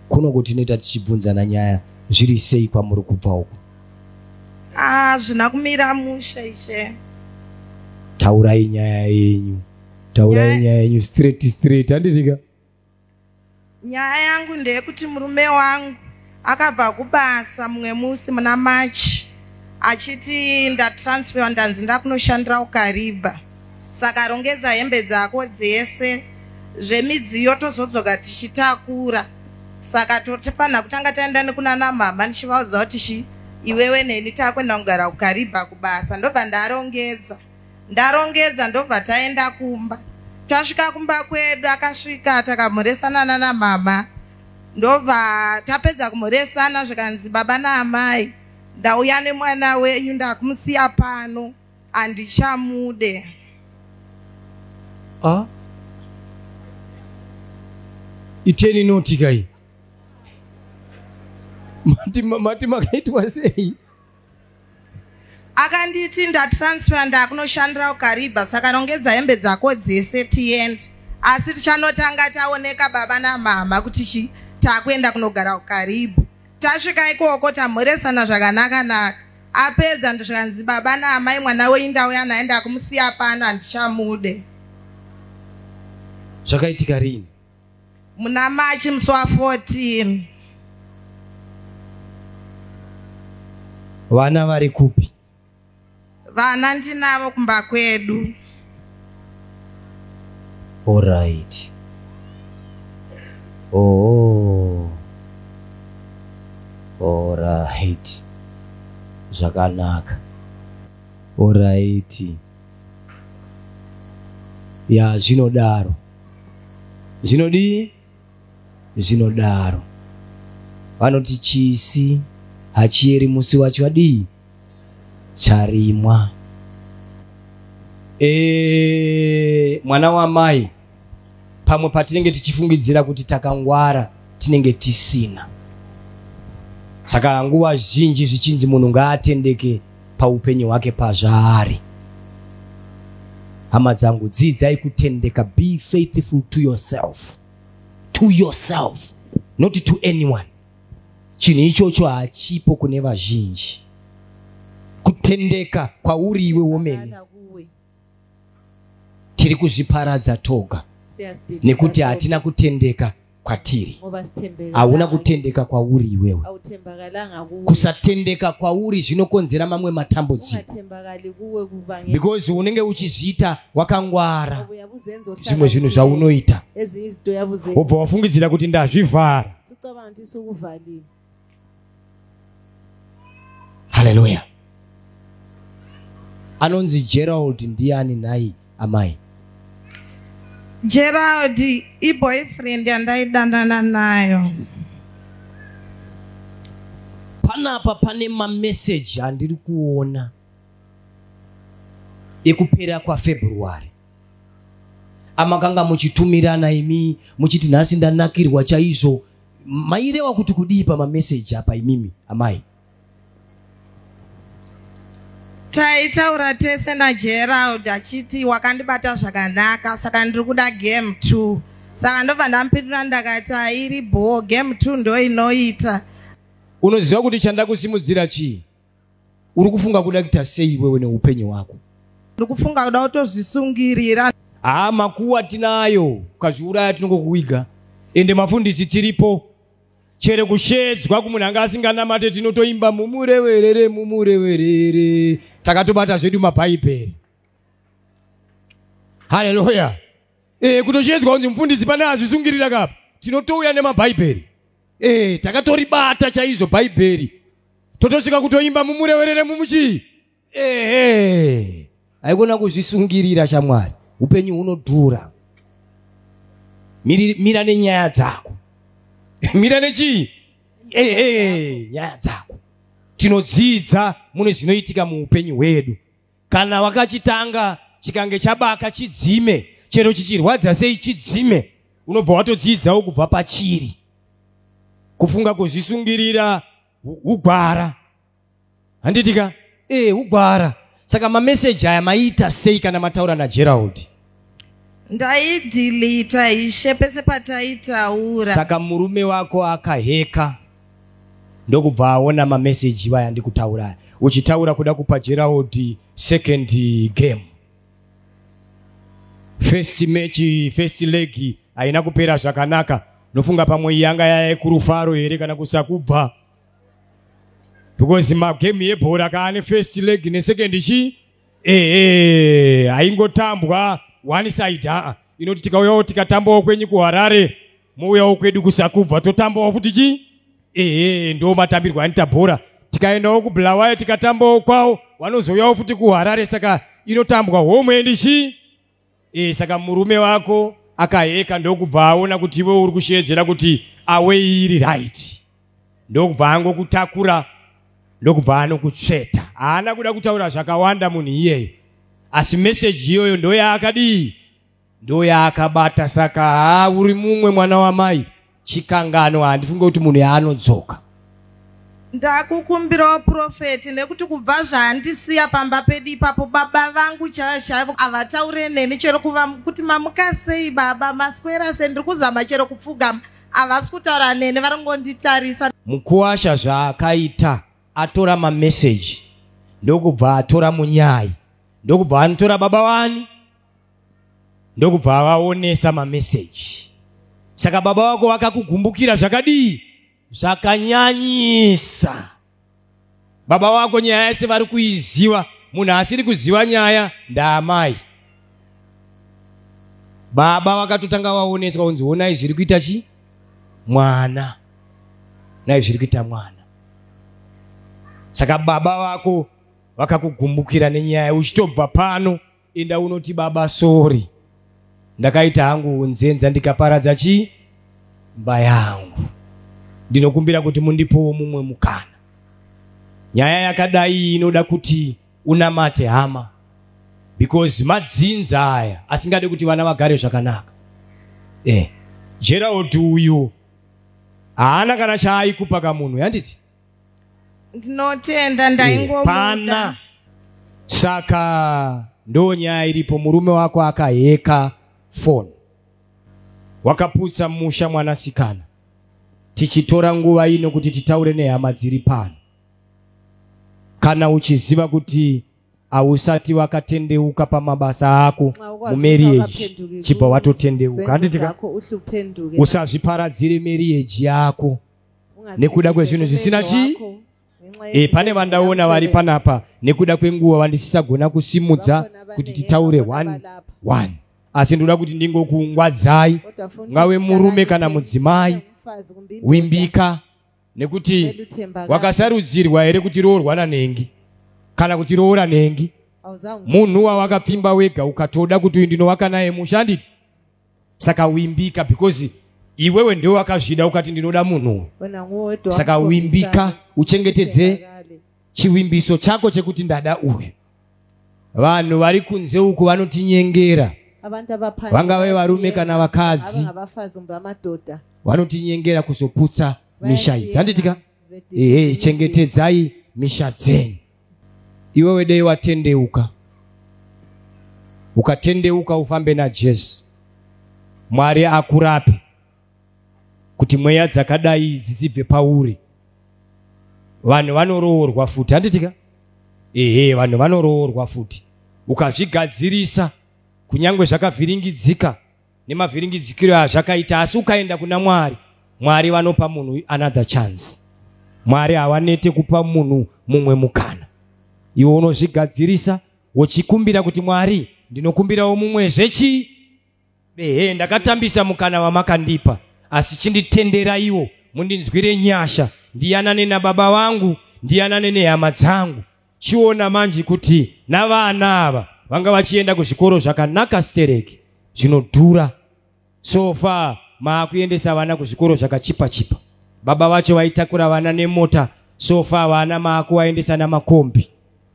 kuno kuti inoita tichibvunzana nyaya zviri sei kwamuri kubva uku hazvina ah, kumira musha ishe taurai nyaya yenyu taurai nyaya yenyu straight straight handitika Nyaya yangu ndeyekuti murume wangu akabva kubasa mumwe musi muna March achiti ndatransfer ndanzi ndakunoshandira ukariba saka rongedza hembe dzako dzese zvemidziyo tozodzoka tichitakura saka totifanha kutanga taenda nekunana mhamha ndichivaudza kuti chi iwewe neni takuenda kugara ukariba kubasa ndobva ndarongedza ndarongedza ndobva taenda kumba tasvika kumba kwedu akasvika takamhoresana nana mama ndobva tapedza kumhoresana zvikanzi baba naamai ndauya nemwana wenyu ndakumusiya pano handichamude ah? iteni notikai mati makaitwa sei akanditi ndatransfer ndakunoshandira ukariba saka rongedza hembe dzako dzese tiende asi tichanotanga taoneka baba namama kuti chi takuenda kunogara ukaribu tasvika ikoko tamhoresana zvakanaka naka apedza ndozvikanzi baba naamai mwana wenyu ndauya naye ndakumusiya pano handichamude zvakaitika rini muna machi musi wa 14 vana vari kupi vana ndinavo kumba kwedu orit oh. orit zvakanaka orit ya zvinodaro zvinodii zvinodaro vanoti chisi hachiyeri musi wacho adii charimwa e, mwana wamai pamwe patinenge tichifungidzira kuti takangwara tinenge tisina saka nguva zhinji zvichinzi munhu ngaatendeke paupenyu hwake pazvaari hama dzangu dzidzai kutendeka be faithful to yourself to yourself not to anyone chinhu ichocho hachipo kune vazhinji kutendeka kwauri iwe womene tiri kuzviparadza toga nekuti hatina kutendeka kwatiri hauna kutendeka kwauri iwewe kusatendeka kwauri zvinokonzera mamwe matambudziko because unenge uchizviita wakangwara zvimwe zvinhu zvaunoita wobva wafungidzira kuti ndazvivhara haleluya anonzi gerald ndiani nhai amai gerald iboyfriend yandaidanana nayo panapa pane mameseji andiri kuona ekupera kwafebruary amakanga muchitumirana imi muchiti nhasi ndanakirwa chaizvo mairewa kuti kudii pamameseji apa imimi amai taitaura tese nagerald achiti wakandibata zvakanaka saka ndiri kuda game two saka ndobva ndamupindura ndakati airi bhoo game two ndoinoita unoziva kuti chandakusimudzira chii uri kufunga kuda kuita sei iwewe neupenyu hwako ndiri kufunga kuda kutozvisungirira haa makuwa tinayo ukazviuraya tinongokuwiga ende mafundisi tiripo chere kushedzwa kumunhu anga asinganamate tinotoimba mumureverere mumureverere takatobata zvedu mabhaibheri haleluya e, kutoshedzwa kunzi mufundisi pane azvisungirira kapa tinotouya nemabhaibheri e, takatoribata chaizvo bhaibheri totosvika kutoimba mumurewerere mumuchii ehe haikona kuzvisungirira shamwari upenyu hunodhura mira nenyaya dzako mira nechii ehe nyaya dzako tinodzidza mune zvinoitika muupenyu hwedu kana wakachitanga chikange chabaka chidzime chero chichirwadza sei chidzime unobva watodziidzawo kubva pachiri kufunga kuzvisungirira ugwara handitika ee eh, ugwara saka mameseji aya maita sei kana mataura nagerald ndaidhilita ishe pese pataitaura saka murume wako akaheka ndokubva aona mameseji vaya ndikutaura uchitaura kuda kupa gerald second game first match first leg haina kupera zvakanaka nofunga pamwe yanga yaye kurufaro here kana kusakubva because magame yebhora kaane first leg nesecond chii ehe haingotambwa one side haa inoti tikauyawo tikatambawo kwenyu kuharare mouyawo kwedu kusakubva totambawo futi chii ehe ndo matambirwo anita bhora tikaendawo kubulawayo tikatambawo kwawo vanozouyawo futi kuharare saka inotambwa homwe ndichii e, saka murume wako akaheka ndokubva aona kuti iwe uri kusheedzera kuti awe iri right ndokubva angokutakura ndokubva anokutsveta haana kuda kutaura zvakawanda munhu iyeyo asi meseji iyoyo ndoyaakadii ndoyaakabata saka haa uri mumwe mwana wamai chikanganwa handifunge kuti munhu yaanodzoka ndakukumbirawo purofeti nekuti kubva zvaandisiya pamba pedu ipapo baba vangu chaivo chaivo havataure neni chero kuva kuti mamuka sei baba maswera se ndiri kuzama chero kupfugama havasi kutaura neni vari ngonditarisa mukuwasha zvaakaita atora mameseji ndokubva atora munyai ndokubva anotora baba wani ndokubva avaonesa mameseji saka baba wako vakakugumbukira zvakadii zvakanyanyisa baba wako nyaya yese vari kuiziva munhu asiri kuziva nyaya ndaamai baba vakatotanga vaoneswa kunzi onai zviri kuita chi mwana nai zviri kuita mwana saka baba vako vakakugumbukira nenyaya uchitobva pano enda unoti baba sori ndakaita hangu unzenza ndikaparadza chii mba yangu ndinokumbira kuti mundipowo mumwe mukana nyaya yakadai inoda kuti unamate hama because madzinza aya asingade kuti vana vagare zvakanaka eh. gerald uyu haana kana chaaikupa kamunhu yanditi ndinotenda ndaingomuda saka ndo nyaya iripo murume wako akaheka foni wakaputsa musha mwanasikana tichitora nguva ino kuti titaure nehama dziri pano kana uchiziva kuti hausati wakatendeuka pamabasa ako mumeriage chibva watotendeuka handitika usazviparadzire meriage yako nekuda kwezvinhu zvisina chii e, pane vandaona vari panapa nekuda kwenguva vandisisagona kusimudza kuti titaure one one asi ndoda kuti ndingokungwadzai ngave murume kana mudzimai wimbika nekuti wakasarudzirwa here kuti roorwa nanhengi kana kuti roora nhengi munhu wawakapfimba wega ukatoda kuti uyu ndinovaka naye mushanditi saka wimbika because iwewe ndiwe wakazvida ukati ndinoda munhu saka wimbika uchengetedze chivimbiso chako chekuti ndada uyu vanhu vari kunze uku vanotinyengera vangave varume kana vakadzi vanotinyengera kuzoputsa misha idzi handitika ehe chengetedzai misha dzenyu iwewe dei watendeuka ukatendeuka ufambe najesu mwari akurape kuti mweya dzakadai idzi dzibve pauri vanhu vanoroorwa futi handitika ehe vanhu vanoroorwa futi ukazvigadzirisa kunyange zvakavhiringidzika nemavhiringidzikiro azvakaita asi ukaenda kuna mwari mwari vanopa munhu another chance mwari havanete kupa munhu mumwe mukana iwe unozvigadzirisa wochikumbira kuti mwari ndinokumbirawo mumwe zvechi ehe ndakatambisa mukana wamakandipa asi chinditenderaiwo mundinzwire nyasha ndiyanane nababa vangu ndiyanane nehama dzangu chiona manje kuti navana ava vanga vachienda kuzvikoro zvakanaka stereki zvinodhura so far maakuendesa vana kuzvikoro zvakachipa chipa baba vacho vaitakura vana nemota so far vana maakuvaendesa namakombi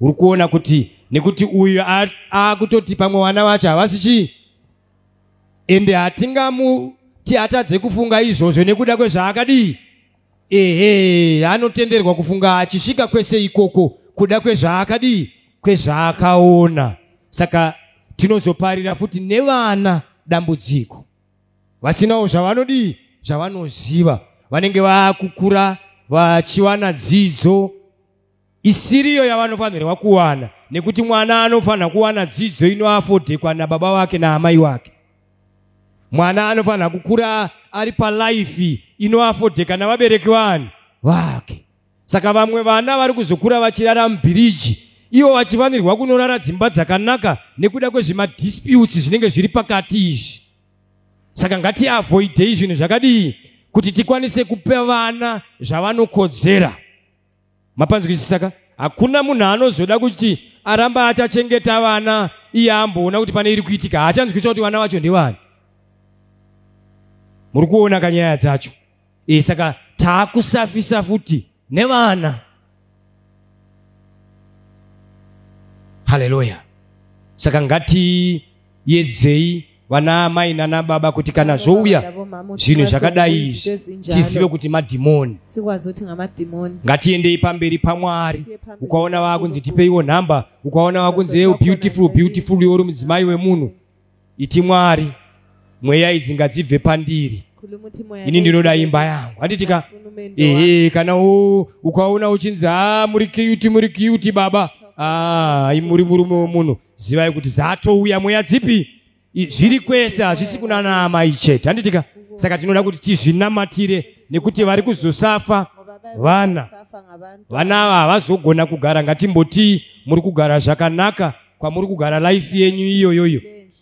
uri kuona kuti nekuti uyu akutoti pamwe vana vacho havasi chii ende hatingamuti atadze kufunga izvozvo nekuda kwezvaakadii ehe anotenderwa kufunga achisvika kwese ikoko kuda kwezvaakadii kwezvaakaona saka tinozoparira futi nevana dambudziko vasinawo zvavanodii zvavanoziva vanenge vakukura vachiwana dzidzo isiriyo yavanofanirwa kuwana nekuti mwana anofanira kuwana dzidzo inoafodhekwa nababa wake naamai wake mwana anofanira kukura ari palife inoafodheka navabereki vanhu vake saka vamwe vana vari kuzokura vachirara mubhiriji ivo vachifanirwa kunorara dzimba dzakanaka nekuda kwezvemadisputes zvinenge zviri pakati izvi saka ngatiavoidei zvinhu zvakadii kuti tikwanise kupa vana zvavanokodzera mapanzwisisa ka hakuna munhu anozoda kuti aramba achachengeta vana iye amboona kuti pane iri kuitika haachanzwisa kuti vana vacho ndevani muri kuona ka nyaya dzacho e saka taakusafisa futi nevana haleluya saka ngati yedzei vana amai nana baba kuti kana zvouya zvinhu zvakadai izvi tizive kuti madhimoni ngatiendei pamberi pamwari ukaona vakunzi tipeiwo nhamba ukaona vakunzi eu beautiful beautiful iwori mudzimai wemunhu iti mwari mweya idzi ngadzibve pandiri ini ndinoda imba yangu handitika ehe kana ukaona uchinzi a ah, muri kiyuti muri kiyuti baba a ah, muri murume wemunhu zivai kuti dzatouya mweya dzipi zviri kwese hazvisi kunana amai chete handitika saka tinoda kuti tizvinamatire nekuti vari kuzosafa vana vana ava havazogona kugara ngatimbotii muri kugara zvakanaka kwamuri kugara life yenyu iyoyoyo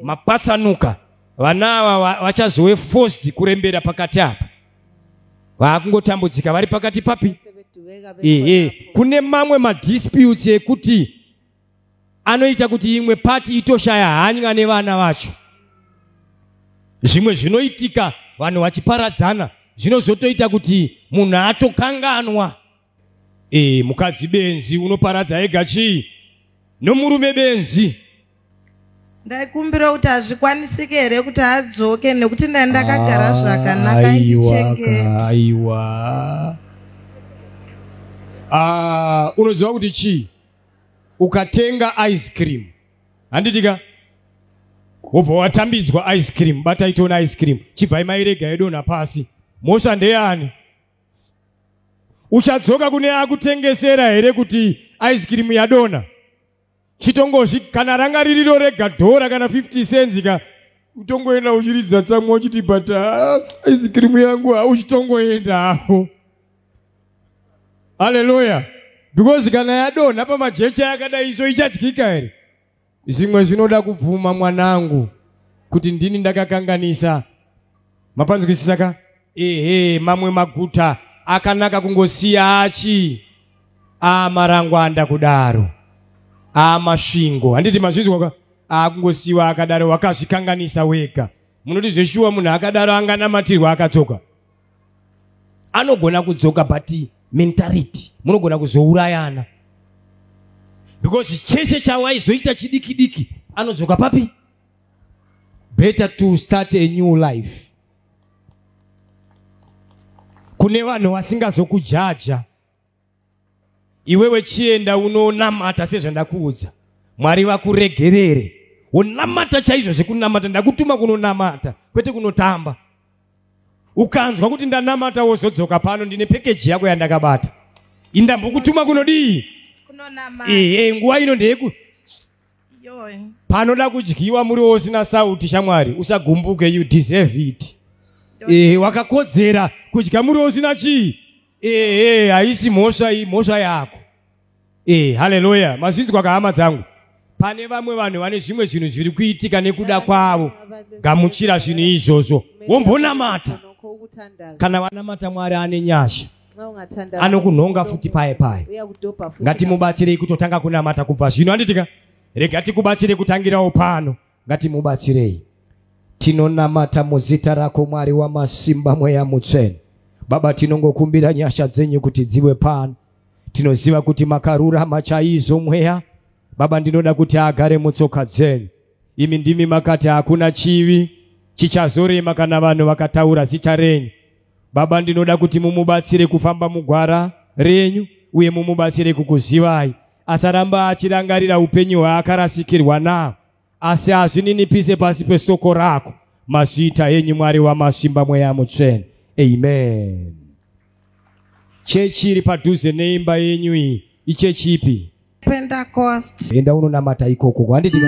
mapatsanuka vana ava vachazove forced kurembera pakati apa vaakungotambudzika vari pakati papi ehe kune mamwe madisputes ekuti anoita kuti imwe pati itoshaya hanya nevana vacho zvimwe zvinoitika vanhu vachiparadzana zvinozotoita kuti munhu atokanganwa e, mukadzi benzi unoparadza ega chii nomurume benzi ndaikumbira kuti hazvikwanisike here kuti adzoke nekuti ndai ndakagara ah, zvakanaka ndichengeta aiwa ah, unoziva kuti chii ukatenga ice cream handitika wobva watambidzwa ice cream batai tiona ice cream chibvai mairega yedonha pasi mhosva ndeyani uchadzoka kune akutengesera here kuti ice cream yadonha chitongozvi kana ranga ririro rega dhora kana 50 cents ka utongoenda uchiridza tsamwa uchiti but ah, ice cream yangu ah, uchitongoenda hapo haleluya because kana yadonha pamajecha yakadai iso ichadyika here zvimwe zvinoda kubvuma mwanangu kuti ndini ndakakanganisa mapanzwisisa ka ehe mamwe maguta akanaka kungosiya achi amarangwanda kudaro amasvingo handiti mazvinzwa ka akungosiwa akadaro wakazvikanganisa wega munoti zveshuwa munhu akadaro anganamatirwa akatsoka anogona kudzoka but mentality munogona kuzourayana because chese chawaizoita chidiki diki anodzoka papi better to start a new life kune vanhu vasingazokujaja iwewe chienda unonamata sezvandakuudza mwari vakuregerere wonamata chaizvo zvekunamata ndakutuma kunonamata kwete kunotamba ukanzwa kuti ndanamata wozodzoka pano ndine pekeji yako yandakabata indambokutuma kunodii ehe nguva ino ndeyeku panoda kudyiwa muriwo usina sauti shamwari usagumbuke you deserve it ehe wakakodzera kudya muriwo usina chii ehe haisi mhosva iyi mhosva yako ehe haleluya mazvinzwa kahama dzangu pane vamwe vanhu vane zvimwe zvinhu zviri kuitika nekuda kwavo gamuchira zvinhu izvozvo wombonamata kana vanamata mwari ane nyasha anokunhonga futi paye paye ngatimubatsirei kutotanga kunamata kubva zvino anditika rega tikubatsire kutangirawo pano ngatimubatsirei tinonamata muzita rako mwari wamasimba mweya mutsvene baba tinongokumbira nyasha dzenyu kuti dziwe pano tinoziva kuti makarurama chaizvo mweya baba ndinoda kuti agare mutsoka dzenyu imi ndimi makati hakuna chivi chichazorema kana vanhu vakataura zita renyu Baba, ndinoda kuti mumubatsire kufamba mugwara renyu uye mumubatsire kukuzivai. Asaramba achirangarira upenyu hwaakarasikirwa naho, asi azvininipise pasi pesoko rako. Mazviita enyu Mwari wamasimba mweya mutsvene. Amen. Chechi iri padhuze neimba yenyu iyi ichechi ipi? Pentecost. Enda unonamata ikoko kwanditika.